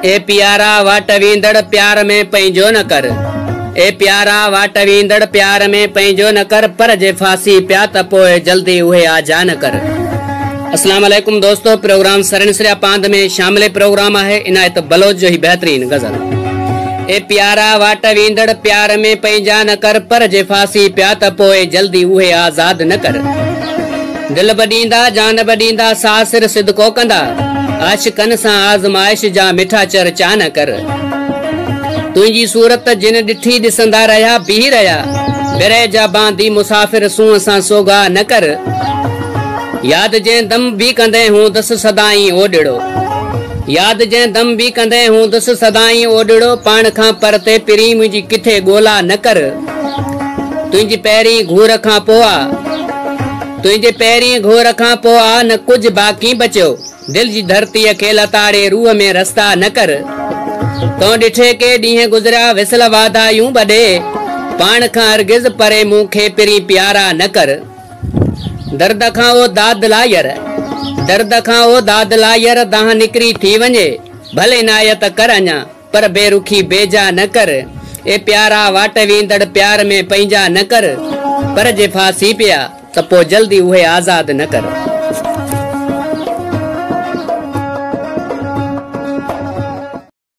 اي پيارا واٽ ويندڙ پيار ۾ پنهنجو نه ڪر اي پيارا واٽ ويندڙ پيار ۾ پنهنجو نه ڪر پر جي ڦاسي پيا ته پوء جلدي اهي آجا نه ڪر. اسلام عليڪم دوستو پروگرام سرين سريا پاند ۾ شامل پروگرام آهي عنايت بلوچ جو هي بهترين غزل اي پيارا واٽ ويندڙ پيار ۾ پنهنجا نه ڪر پر جي ڦاسي پيا ته پوء جلدي اهي آزاد نه ڪر. دل به ڏيندا، جان به ڏيندا، ساء سر صدقو ڪندا، عاشقن سان آزمائش جا، مٺا چر چا نه ڪر. تنهنجي صورت جن ڏٺي، ڏسندا رهيا، بيهي رهيا، برهه جا باندي مسافر، سونهن سان سوگاهه نه ڪر. ياد جنهن دم به ڪندين، هوندس سدائين اوڏڙو. ياد جنهن دم به ڪندين، هوندس سدائين اوڏڙو، پاڻ کان پرتي پرين، منهنجي ڪٿي ڳولا نه ڪر. تنهنجي پهرين گهور کان پوء آ. تنهنجي پهرين گهور کان پوء آ نه ڪجهه باقي بچيو دل جي ڌرتيء کي لتاڙي روح ۾ رستا نه ڪر تون ڏٺي ڪي ڏينهن گذريا وصل واڌايون ٻڏي پاڻ کان هرگز پري مون کي پرين پيارا نه ڪر درد کان او داد لاير درد کان او داد لاير دانهن نڪري ٿي وڃي ڀلي نايت ڪر اڃا پر بي رخي بي جا نه ڪر. اي پيارا واٽ ويندڙ پيار ۾ پنهنجا نه ڪر. پر جي ڦاسي پيا ته پوء جلدي اهي آزاد نه ڪر.